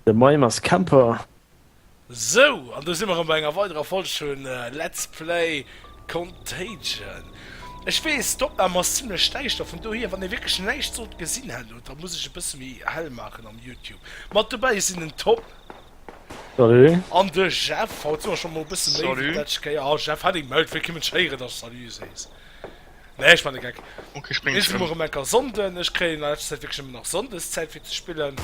De Maim ass Camper. Sou, an do si mer rëm bei enger weiderer Folg vu Let's Play Contagion. Ech weess, d'Opnam ass zimlech däischter, vun dohier, wann ee wierklech näischt sollt gesinn hat elo, da muss ech e bësse méi hell maachen am YouTube. Mat dobäi sinn den Tom. Salut. An de Jeff. Haut si mer scho mol e bësse méi wéi d'lescht Kéier. Salut. Jeff Henning mellt, wéi kéim ech héieren, dass du Salut sees? Nee, ech meine Geck. Okay, spring Ech hun rem enker Sonden, ech kréien an letzter Zäit wierklech nemmen nach Sondes Zäit fir ze spillen.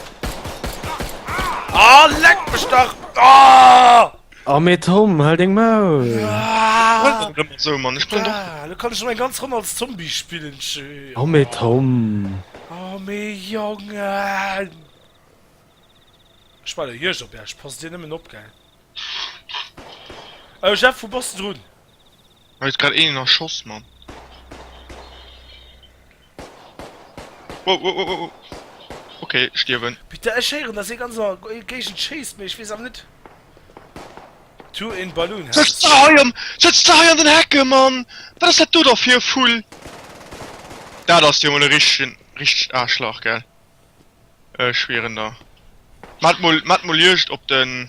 Aah leck mech dach! Aah! Oh mee Tom, hal deng Maul! Aah! Aah! Lo kann ech rem eng ganz Ronn als Zombie spillen, schön! Oh mee Tom! Oh mee Jongen! Ech war der Juegd op iech, passt dir nemmen op, gell? Oh Jeff, wou bass de drun? Mech huet grad een erschoss man. Wow, wow, wow, wow. Ok, ech stierwen. Peter, ech héieren dass ee ganz an der Géigend schéisst, mee ech weess awer net. To in balloon has. Setz der hei am, setz der hei an den Hecke man! Wat ass dat do da fir e Vull? Dat ass jo mol e richtegen, richtegt Aarschlach gell? Ech schwieren der. Mat mol, mat mol Juegd op den,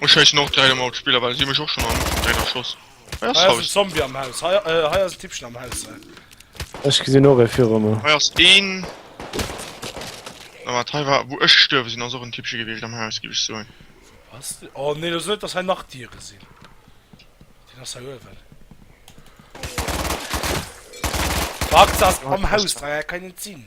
Ech scheissen och direkt emol op d'Spiller well si hun mech och schon am Ufang direkt erschoss. Hei ass en Zombie am Haus, hei ass en Tippchen am Haus. Ech gesin och ee viru mer. Hei ass een. Wat hei war wou ech gestuerwe sin ass och en Tippche gewiescht am Haus giff ech soen. Was? Oh nee, los net dass hei nach Diere sin. Deen ass hei uewen. Wart, se ass am Haus, hei kann een net sin.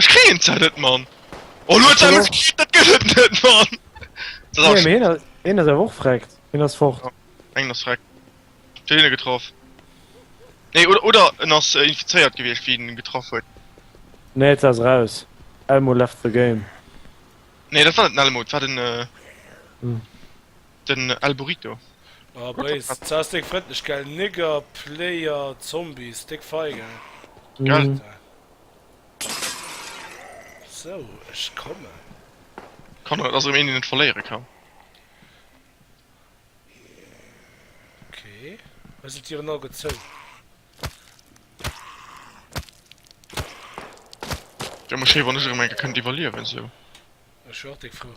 Ech kréien d'Zäit net, Mann! Oh, lo huet se eemol gekritt, dat gëtt et net, Mann! Nee, mee hien ass awer och vreckt. Hien ass fort. Mengen ass vreckt. Huet een e getraff? Nee, oder, oder en ass infizéiert gewiescht, wéi een en getraff huet. Nee, se ass raus. Elmo left the game. Nee, dat war net den Elmo, et war den. Den El Burrito. Oh Blaze, s ass deng Frëndlech gell, Nigger Player Zombies, déck Feigel. Gell? Sou, ech kommen. Kann et ass erëm een deen et verléiere kann. Ok, elo sinn d'Dieren all gezou. Wär mol schéi wann ech erëm eng Kéier kënnt iwwerliewen sou. Ech wär och déck frou.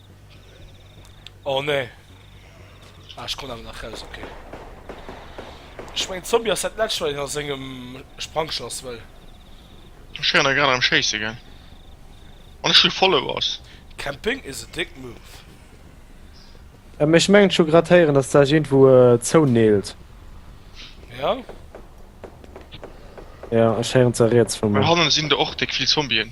Oh nee. Ah, ech konnt awer nach raus, ok. Ech mengen Zombie ass dat Letzt wat een a sengem Sprangschlass wëll. Ech wären da grad am schéisse ginn. An ech hu Followers. Camping is a dick move. Mä ech mengen ech hu grad héieren dass d'Saach iergendwou zouneelt. Ja? Ja, ech héieren ze riets vu Well mir. hannen sinn der och déck vill Zombien.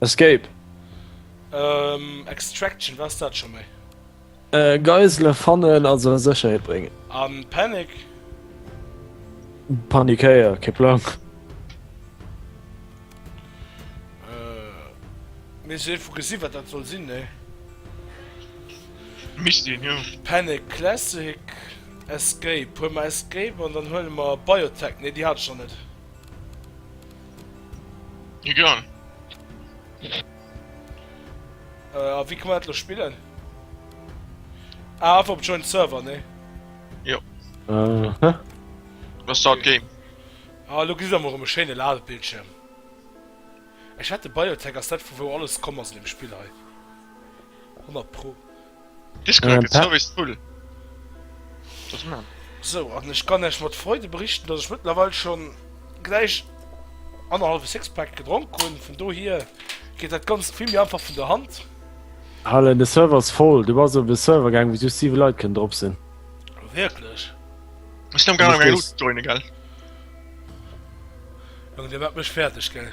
Escape. Ehm, Extraction, war es dat schon mei? Äh, Geisele fannen a se a Sécherheet bréngen. An Panic? Panikéier, kee Plang. Mir si vu gesi wat dat soll sinn ne. Misst een jo. Panic Classic Escape huel mer Escape an dann huele mer Biotech, ne déi hat ech nach net. Egal. Äh, a wie kann man dat spillen? Ah, einfach op Joint Server, ne? Jo. Äh, hä? Was start okay. Game? Ah, lo gis am rum e schéine Ladebildschirm. Ech hätte Biotech ass dat vu wou alles komm ass in dem Spiel hei. 100 pro. Discord gëtt souwisst full. Dofir man. Sou, an ech kann Iech mat Freude berichten, dass ech mëttlerweil schon gläich annerhalwe Sixpack gedronk hunn, vun dohier geet dat Ganzt vill méi einfach vun der Hand. Allen, de Server ass voll. Du bass op e Server gaangen, wou just 7 Leit kënnen drop sinn. Wierklech? Ech sinn am gaangen eng Loots ze joinen, gell? Jong, dir maacht mech fäerdeg, gell?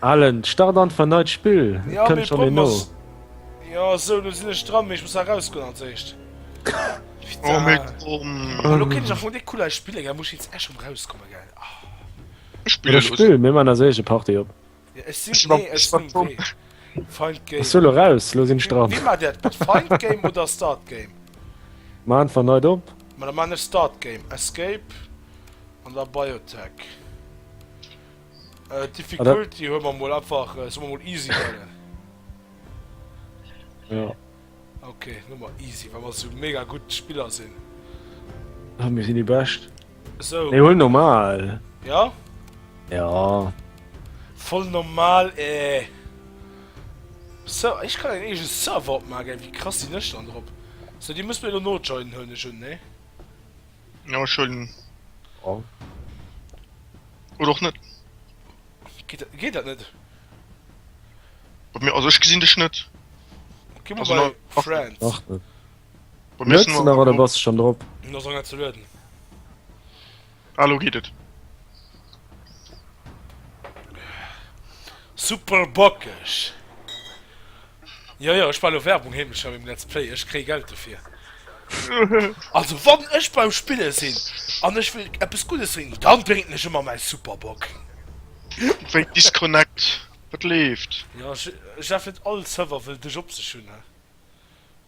Allen, start an verneit d'Spill. Et kënnt schonn een no. Jo, sou, do sinn ech dran, mee ech muss nach erausgoen als éischt. Oh mee komm. Elo kéint ech am Fong dee Kulai spillen, gell, muss ech jetzt echt erausgoen, gell. Ech spille los. Spill, mir man als éischt eng Partie op. Ja, ech sinn, nee, ech sinn Game. Find Game. Ech lo raus, lo sinn ech dran. Wie mat dat gutt? Find Game oder Start Game? Ma einfach neit op. Ma da man ech Start Game. Escape an der Biotech. Äh, Difficulty huel mer mol einfach, äh, soll mer mol easy huelen. Ja. Ok Nummer easy wa mer sou mega gutt Spiller sinn. Ah mir sinn déi bescht. Sou. Ech hunn normal. Ja? Ja. Voll normal ee. Eh. So ech kann en eege Server opmagen, wéi krass sinn ech dann drop? So Dir musst mir elo nojoinen huelen ech un, nee? Jo ech huelen. Oh. Oder och net. Geet dat net? Bei mir, also ech gesinn dech net. Gi mol bei Friends. Ach net. Bei mir ass Net nach oder bass schon drop? Mir ass nach net ze lueden. Ah lo geet et. Super bockeg! Jo jo ech war elo Werbung heemlecher beim Let's Play, ech kréi Geld dofir. Also wann ech beim Spillen sin an ech will eppes Guddes drénken dann drénken ech emmer mäi Superbock. Wait disconnect, wat leeft? Jo Jeff net all Server wëll dech op sech hun.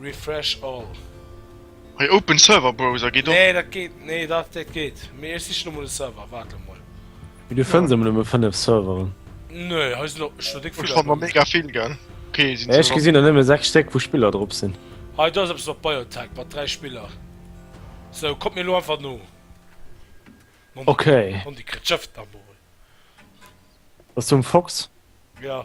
Refresh all. Hei open server browser geet och. Nee dat geet nee dat dat geet mee ech sichen emol e Server waart emol. Mee du fënns emol nëmme 5 Serveren. Nee hei sinn och scho déck vill. Ech fann der mega vill gell. Okay sinn se. Ech gesinn der nëmme 6 Stéck wou Spiller drop sinn. Hei do ass eppes mat Biotech mat 3 Spiller. Sou kommt mir elo einfach no. Ok. Mondi krit Schëff nach mol. Bass du um Fox? Jo.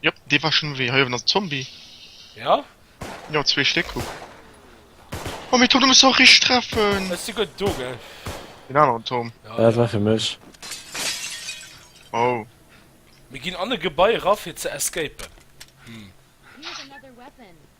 Jop, dee war schon wéi. Hei owen ass en Zombie. Ja? Jo, zwee Stéck, kuck. Oh mee Tom, du muss se och richteg treffen! Ech si guer do, gell? Den aneren Tom. Ja, dat war fir mech. Oh. Mir ginn an e Gebai era fir ze escapen. Hm.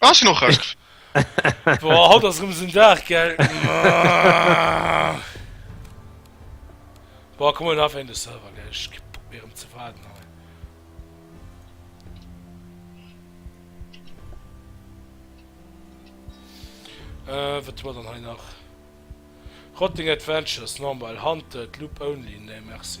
Ass jo och recht. Boah, haut ass rem so'n Dag, gell? Boah, komm mal einfach in den Server, gell? Ech krieg Bock méi rem ze warden, hei. Äh, wat hun mer dann hei nach? Rotting Adventures, normal, hunted, loop only, nee merci.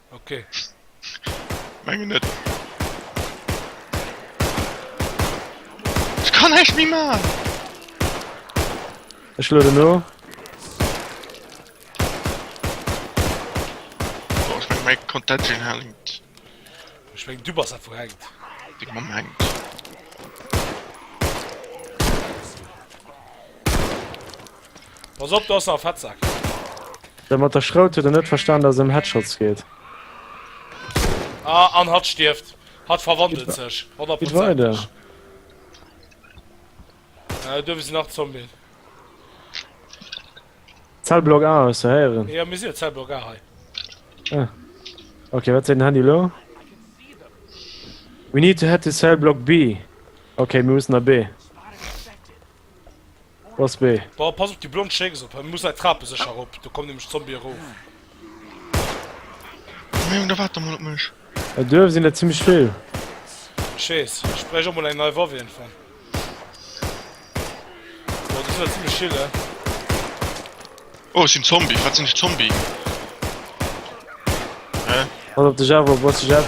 Okay. Mengen net. Ech kann näischt méi man! Ech lueden no. Boah, ech meng mei Contention hänkt. Ech meng du bass einfach hänkt. Deng Mamm hänkt. Pass op, do ass nach e Fettsak. Dat mat der Schrout huet en net verstan, dass et ëm Headshots geet. Ah, an hatt stierft. Hatt verwandelt sech, honnertprozenteg. Äh, do sinn nach Zombien. Zellblock A hues du héieren? Jo, mir sinn op Zellblock A hei. Ah. Okay, wat seet den Handy elo? We need to head to Cellblock B. Okay, mir mussen a B. Boss B. Boah, pass op déi blond Schécks op, hie muss nei Trape sécher rop, do kommen nämlech Zombie erof. Mee Jong, da waart da mol op mech. Hei duerf sin der zimlech vill. Ech wees, ech bräicht och mol eng nei Waff iergendwann. Boah, déi sin der zimlech vill, eh. Oh, ech sin Zombie, wat sin ech Zombie? Hä? Pass op dech auf, oh Boss Jeff.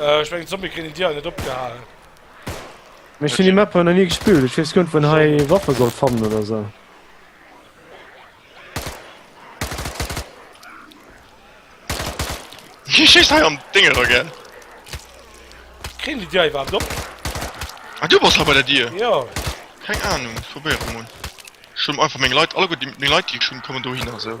Äh, ech mengen Zombie kriegen Dir net opgehalen. Ech sinn die Mapper nach nie gespillt, ech wees gönnt vun hei Waffe soll fannen oder so. Wie schießt hei am Dinge da gell? Kriegen die Dir überhaupt op? Ah, du bist aber der Dir? Ja. Keine Ahnung, ich probiere mal. Schon einfach meine Leute, alle gut, meine Leute, die schon kommen da hin, also.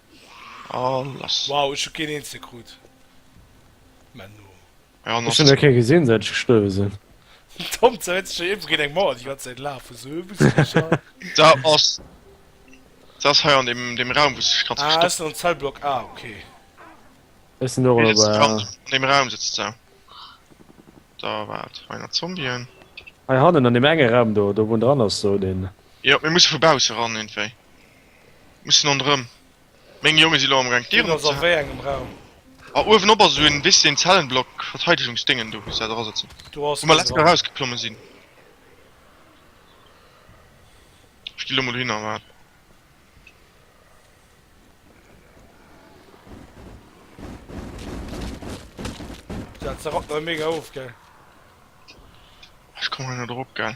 Alles. Wow, ech hu keen eenzege krut. Menno. Ech hun nach kee gesin säit ech gestuerwe sin. Tom zerréit sech hei iergendwou géint eng Mauer déi ganz Zäit laaf wou se Huebelsicher. Dat ass. Dat ass hei an dem dem Raum wou sech grad verstoppt. Ah ech sin an Zellblock A, okay. Ech sin och elo bei A. An dem Raum sëtzt se. Da waart hei nach Zombien. Hei hannen an dem enge Raum do do wou en dran ass do den. Jo mir musse vu bausse ran iergendwéi. Mussen an rëm. Meng Jongen si lo am gang d'Dieren op ze halen. A uewen op ass esou en wis den Zellenblock Verteidegungsdéngen do muss dat era sëtzen wou mer letzte raus geklommen sinn. Ech gi lo mol hin a waarden. Ech kommen hei net erop gell.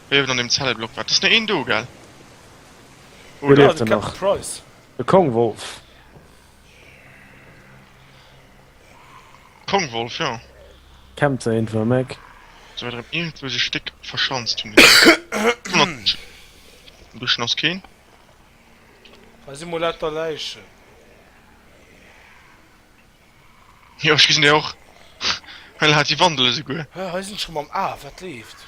Wéi ewell an dem Zellblock war. Et ass no een do, gell? Wou leeft en nach? De Kongwolf. Kongwolf, jo. Campt se iergendwou am Eck. Sou weit erëm iergendwou sech déck verschanzt hunn déi Dénger. Buschen ass keen. Hei si mol lauter Läichen. Jo, ech gesinn déi och. Hei hat déi Wandel esouguer. Hei sinn ech erëm am A. Wat leeft?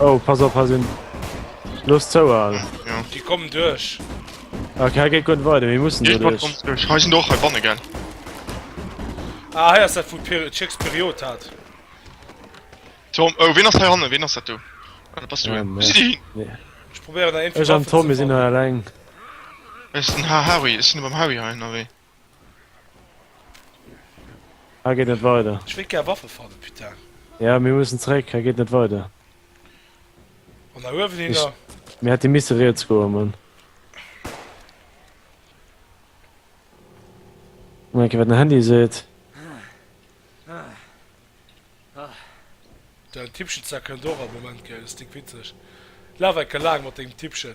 Oh, pass op, ha sinn. Los zou all. Ja. Die kommen duerch. Ok, ha geet gutt weide, mir mussen duerch. Ha sinn och hei banne gell. Ah, hei ass dat vu Chicks Period hat. Tom, oh, wien ass hei hanne, wien ass dat du? Ah, pass du. Wo si di hin? Ech probéieren der een. Ech an Tom, mir sinn hei alleng. Ech sinn ha Harry, ech sinn beim Harry hei, na wéi? Hei geet net weider. Ech wéilt gär Waffe fannen, putain. Ja, mir mussen zréck, hei geet net weider. An da uewen hin da. Mir hätte misse riets goen, Mann. Guck mol, wat den Handy seet. Dein Tippchen zerkënnt och am Moment, gell? Ass dick witzeg. Laf enke laang mat dengem Tippchen.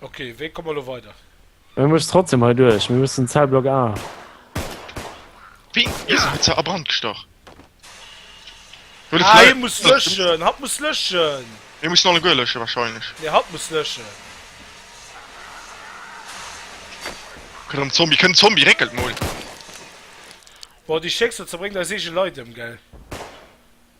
Ok, wéi komme mer elo weider? Mir mussen trotzdem hei duerch, mir mussen Zellblock A. Wéi? Mir sinn net ze a Brand gestach. Ah, hie muss löschen, hatt muss löschen! Mir mussen alleguer löschen wahrscheinlech. Nee, hatt muss löschen. Kënnt erëm Zombie, kënnt Zombie, réckelt mol! Boah, déi Stéckser zerbréngt eis eege Leit ëm, gell?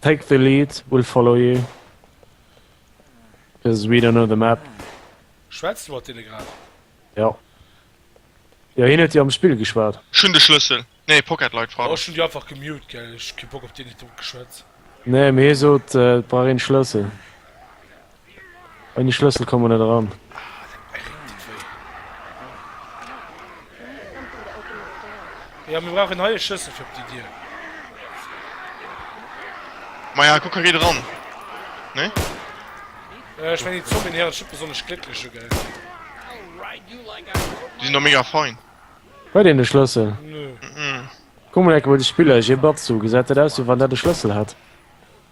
Take the lead, we'll follow you, cause we don't know the map. Schwätz du mat deene grad? Jo. Jo, hien huet jo am Spill geschwat. Ech hunn de Schlëssel. Nee, Pocket Light war Oh, ech hunn dat. déi einfach gemute, gell. Ech hu kee Bock op deen, deen huet domat geschwätz. Nee, mee hie sot, et brauch een Schlëssel. An die Schlëssel komme net eran. Ja mir brauchen hei e Schlëssel fir op déi Dier. Ma ja, kuck, hei geet eran, nee? Äh, ech mengen déi Zombien hier ass just besonnesch glécklech elo, gell? Déi sinn do mega fein. Huet een de Schlëssel? Nö. Kuck mol eng Kéier bei de Spiller, Jee Batzu, gesäit dat aus wéi wann dat e Schlëssel hätt?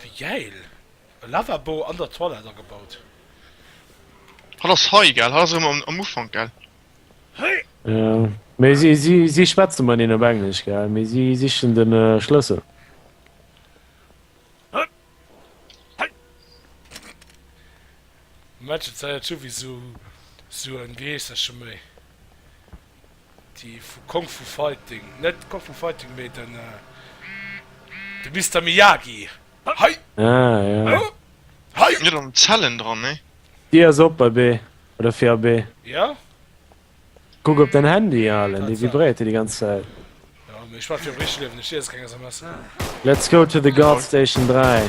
Wéi gäil! E Lavabo an der Toilette agebaut. Hat ass hei gell? Hat ass erëm am Ufank gell? Jo, mee si si si schwätze mat een op Englesch gell, mee si sichen de Schlëssel. Mädchen zéiert souwisou sou en Geesserche méi. Déi vu Kung Fu Fighting, net Kung Fu Fighting, mee den de Mister Miyagi. Hei! Ah jo. Huh? Hei! Net an Zellen dran, nee. Déi ass op bei B, oder fir a B. Jo. Kuck op däin Handy, Arlen, dee vibréiert jo déi ganz Zäit. Jo, mee ech maache jo am richte Liewen, ech liese keng SMS. Let's go to the Guard Station 3.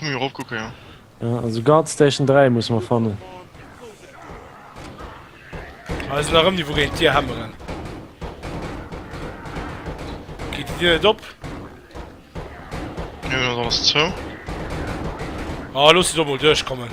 Muss erof kucken jo. Ja also Guard Station 3 musse mer fannen. Ech sinn erëm niwwou géint d'Dier hämmeren. Geet déi Dier net op? Nee dat ass zou. Ah looss se do mol duerchkommen.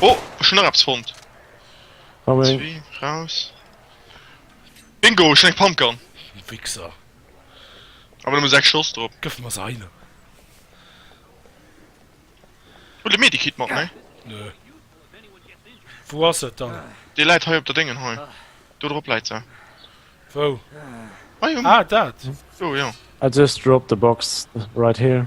Oh ech hun nach eppes fonnt. Zwee raus. Bingo ech hun eng Pumpgun. Di Wichser. Awer nëmme 6 Schoss drop. Gëff mer se heino. Huel de Medikit mat ne? Nö. Wou ass et dann? Dee läit hei op der Déngen hei. Do drop läit se. Wou? Hei um. Ah dat? Do jo. I just dropped the box right here.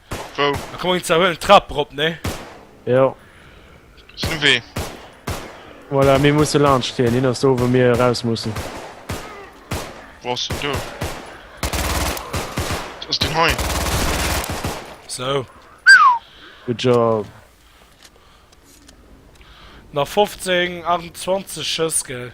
Wou? Da komm eng zerhuelen Trap rop, nee? Jo. Ass nu wéi? Voilà, mir musse laanscht hien. Hien ass do, wou mir eraus mussen. Wou ass hien do? Ass deen hei? Sou. Good job. Nach 15, 28 Schëss, gell?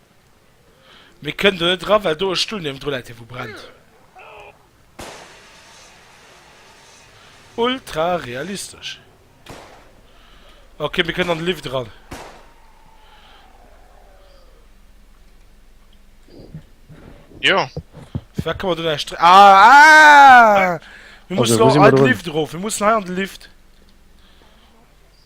Mee kënn do net eran, well do e Stull niewendru läit, dee wou brennt. Ultra realistesch. Ok, mir kënnen an de Lift eran. Jo. Firwat kann mer do näischt drécken? Ah! Ah! Mir mussen an de Lift erof, mir mussen hei an de Lift.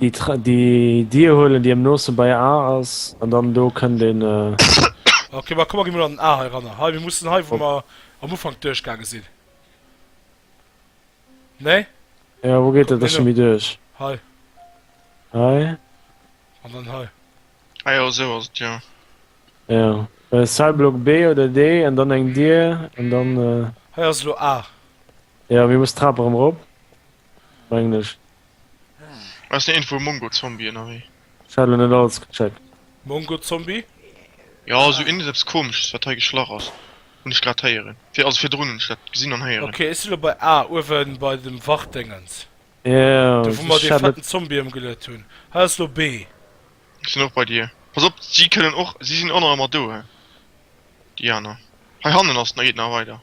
Déi Dier huelen déi am noosten bei A ass an dann do kënnt een. Ok ma komm mer gi mol an den A hei eranner hei mir mussen hei wou mer am Ufank duerch gaange sinn nee? Jo wou geet dat da scho méi duerch? Hei hei an dann hei. Ah jo esou ass et jo. Jo well ass hei Block B oder D an dann eng Dier an dann. Hei ass elo A. Jo mir mussen d'Trap erëm rop. Mengen ech. Ass net iergendwou e Mongo-Zombie ënnerwee? Ech hat lo net alles gecheckt. Mongo-Zombie? Jo, sou iergendeppes komesches wat hei geschlach ass hunn ech grad héieren. Fir also virdrun hunn ech dat gesinn an héieren. Ok, ech si lo bei A, uewen bei dem Wachtdéngens. Do wou mer dee fetten Zombie ëmgeluet hunn. Hei ass lo B. Ech sinn och bei dir. Pass op, si kënnen och, si sinn och nach ëmmer do, déi aner. Hei hannen ass, da geet nach weider.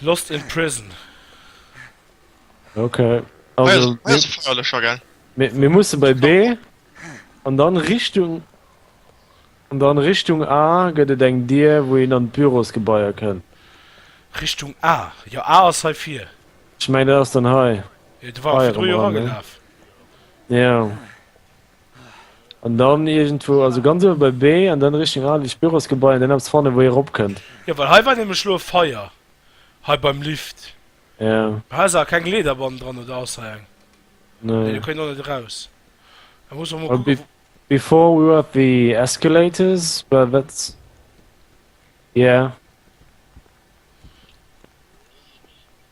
Lost in prison. Ok. Mir musse bei B an dann Richtung an dann Richtung A gëtt et eng Dir, wou een an d'Bürosgebaier kënn. Richtung A? Jo A ass hei vir. Ech meng dat ass dann hei. Jo, de war och virdru jo eragelaf. Jo. An dann iergendwou, also ganz uewe bei B, an dann Richtung Adelech Bürosgebai, an dann eppes fannen, wou ee ropkënnt. Jo, well hei war nämlech elo e Feier, hei beim Lift. Jo. Mä hei ass awer keng Leeder bannen dran, oder ass hei eng? Nee. Nee, do kënnt een och net eraus. Da muss mer mol kucke wou. Before we have the escalators, well that's. Yeah.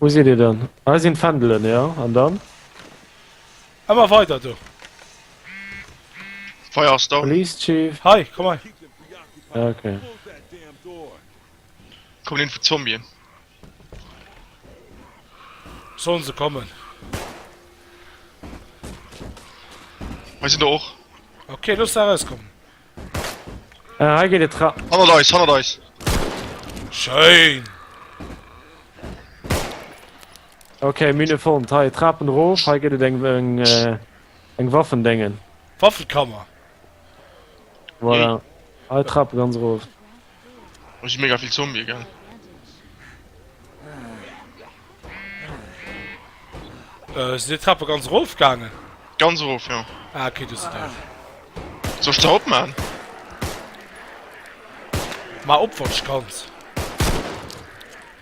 Wou sidd Dir dann? Hei sinn d'Fändelen, jo, an dann? Ëmmer weider do! D'Feier ass down. Release, Chief. Hei, komm hei. Ja, okay. Kommen info Zombien. Sollen se kommen. Hei sinn der och. Okay, looss se erauskommen. Äh, hei geet et ra. Hannert eis, hannert eis! Schéin! Ok, Mine fonnt. Hei, Trapen rof, hei gëtt et eng eng äh, eng Waffendéngen. Waffenkammer! Voilà. Hei, Trape ganz rof. Oh, si mega vill Zombie, gell? Äh, si Trappe ganz rof gaangen? Ganz rof, ja. Ah, okay, du se da. Zo sta op ma. Ma opwatsch ganz.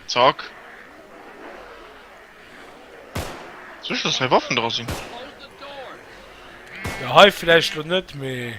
Zack. Zwischen zwei Waffen dra sinn. Ja, hei vielleicht lo net, mee...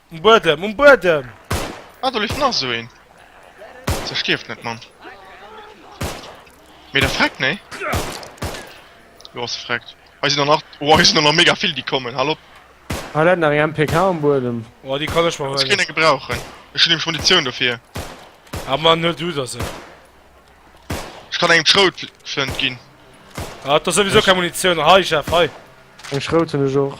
Um Buedem, um Buedem! Ah, do leeft nach esou een. Se stierft net, Mann. Mee der freckt, nee? Jo, se freckt. Hei sinn der nach. Oh, hei sinn der nach mega vill, déi kommen. Hal op! Hei läit nach eng MPK um Buedem. Oh, déi kann ech mer huelen. Muss keen eng gebrauchen. Ech hunn nämlech Munitioun dofir. Ah, man, huel du der se. Ech kann engem d'Schroutflënt ginn. Ah, et ass souwisou keng Munitioun. Hei, Jeff, hei. Eng Schrout hunn ech och.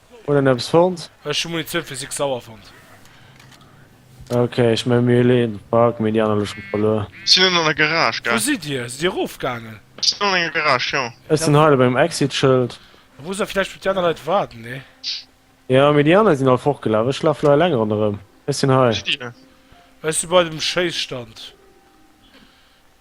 Hun en eppes fonnt? Ech hu Munitioun fir six Sauer fonnt. Ok, ech méi mir leen d'Bak, mee déi aner hu schon verluer. Sin un an der Garage gaang. Wou sidd dir? Sidd dir erof gaangen? Ech sin an enger Garage, jo. Ech sin hei lo beim Exit Schëld. Da muss der vläicht op déi aner Leit waarden, nee? Jo, mee déi aner sin all fortgelaf. Ech laf lo eleng ronderëm. Ech sin hei. Wou sidd dir? Ech si bei dem Schéisstand.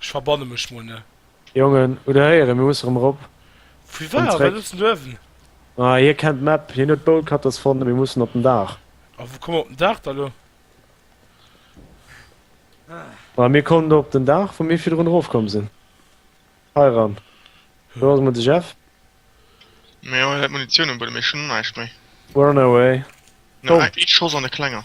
Ech verbanne mech mol ne. Jongen, hutt der héieren, mir musse rëm rop. Wéi war, wat hues de uewen? Ah, hie kennt d'Map, hien huet d'Bolt Cutters fonnt, mir mussen op den Daach. A wou komme mer op den Daach da lo? Bah, mir kommen do op den Daach, wou mir virdrun erofkomm sinn. Hei ran. Do ass emol de Jeff. Mir hu Munitioun um Buedem, ech hunn näischt méi. We're on our way. No, eng Schoss an e klenger.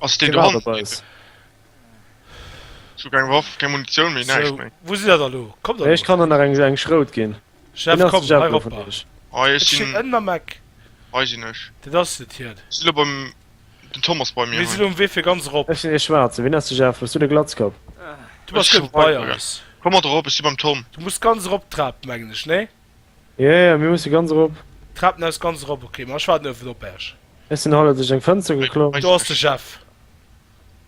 Ass deen do hannendrun? Ech hu keng Waff, keng Munitioun méi, näischt méi. Wou sidd der da lo? Kommt der lo? Ech kann der nach eng Schrout ginn. Jeff, komm, hei eropper. Hei, ech sinn. Ech sinn ënnen am Eck. Hei sinn ech. Dat ass et hiert. Ech si lo beim. Den Tom ass bei mir. Mir si lo um Wee fir ganz erop. Ech sinn ee Schwaarzen. Wien ass de Jeff? Hues du de Glatzkapp? Du bass guer bei eis. Komm mat erop, ech si beim Tom. Du muss ganz erop d'Trap, mengen ech, nee? Yeah yeah mir musse ganz erop. Treppen aus ganz erop ok ma ech warden ëwen op ärch. Ech sin haler duerch eng Fënster geklomm. Do ass de Jeff.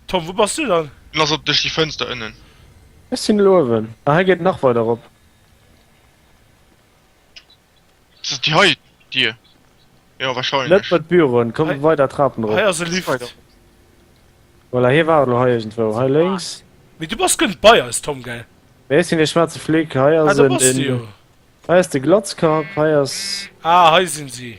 Tom wou bass du dann? En ass op duerch déi Fënster ënnen. Ech sin elo ëwen a hei geet nach weider erop. Ass et déi hei Dier? Jo wahrscheinlech. Net bei d'Büroen, komm weider Trapen erop. Hei ass e Lift. Voilà, hie war elo hei iergendwou. Hei lénks. Mee du bass guer net bei eis, Tom, gell? Mee ech sinn ee schwaarze Flick. Hei ass en. Ah, do bass de jo. Hei ass de Glatzkapp, hei ass. Ah, hei sinn si.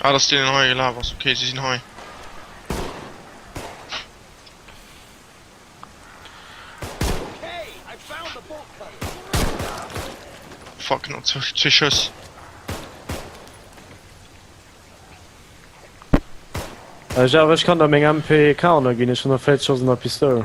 Ah dass deen hei gelaf ass, ok si sinn hei. Fuck no zwee Schëss. Ech awer ech kann der meng MP K ënner ginn, ech hunn nach 40 Schoss an der Pistoul.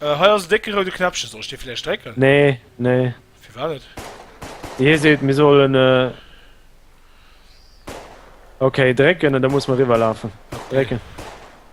Äh, hei ass en décke roude Knäppchen. Soll ech dee vläicht drécken? Nee, nee. Firwat net? Hie seet, mir sollen. Äh, okay, drécken, an da muss mer eriwwerlafen. Drécken.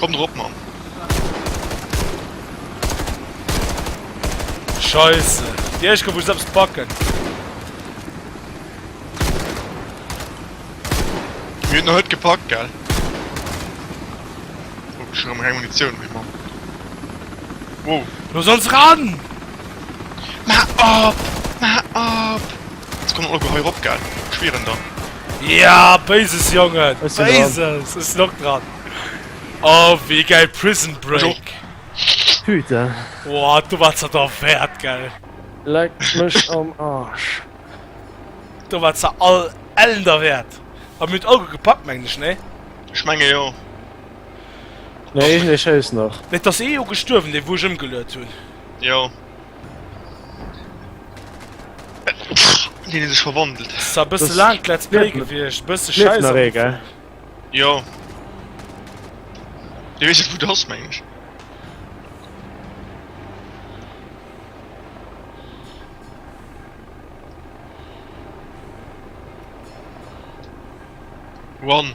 Kommt erop mam. Scheiße. Die Eschke muss selbst backen. Mir noch net gepackt gell. Oh, schon am Munition mein Mann. Wow. Du sollst ran! Ma ab! Ma ab! Ech kommen och geheier op gell ech schwieren der. Ja béises Jongen béises ech sinn och dran oh wéi gäil prison break putain oh do war ze der Wäert gell leck mech am Arsch do war ze all Ellen der Wäert a mir hunn et all gutt gepackt mengen ech nee? Ech menge jo. Nee ech schéiss nach. Mee et ass ee jo gestuerwen dee wou ech ëmgeluet hunn. Jo. Deen huet sech verwandelt. Ass e bësse laangt Let's Play gewiescht, e bësse schäiss am Ufank. Jo. Dir weess net wou de ass mengen ech. Run.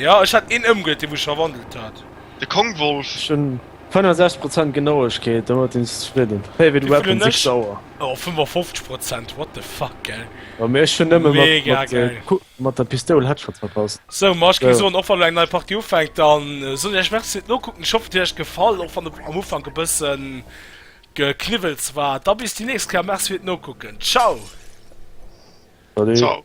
Jo ech hat een ëmgëtt dee wou ech verwandelt hat. De Kongwolf. Ech hun 65 Prozent Genauegkeet, domat sin ech zefridden. Favorite weapon sechs Auer. Oh 55 Prozent what the fuck gell. Jo mee ech hun nëmme mat der Pistoul Headshots verpasst. Sou ma ech géing soen och wann lo eng nei Partie ufänkt dann soen ech iech merci fir d'Nokucken, ech hoffen et huet iech gefall och wann am Ufank e bëssen Gekniwwels war. Da bis déi nächst Kéier, merci fir d'Nokucken, ciao. Salut. Ciao.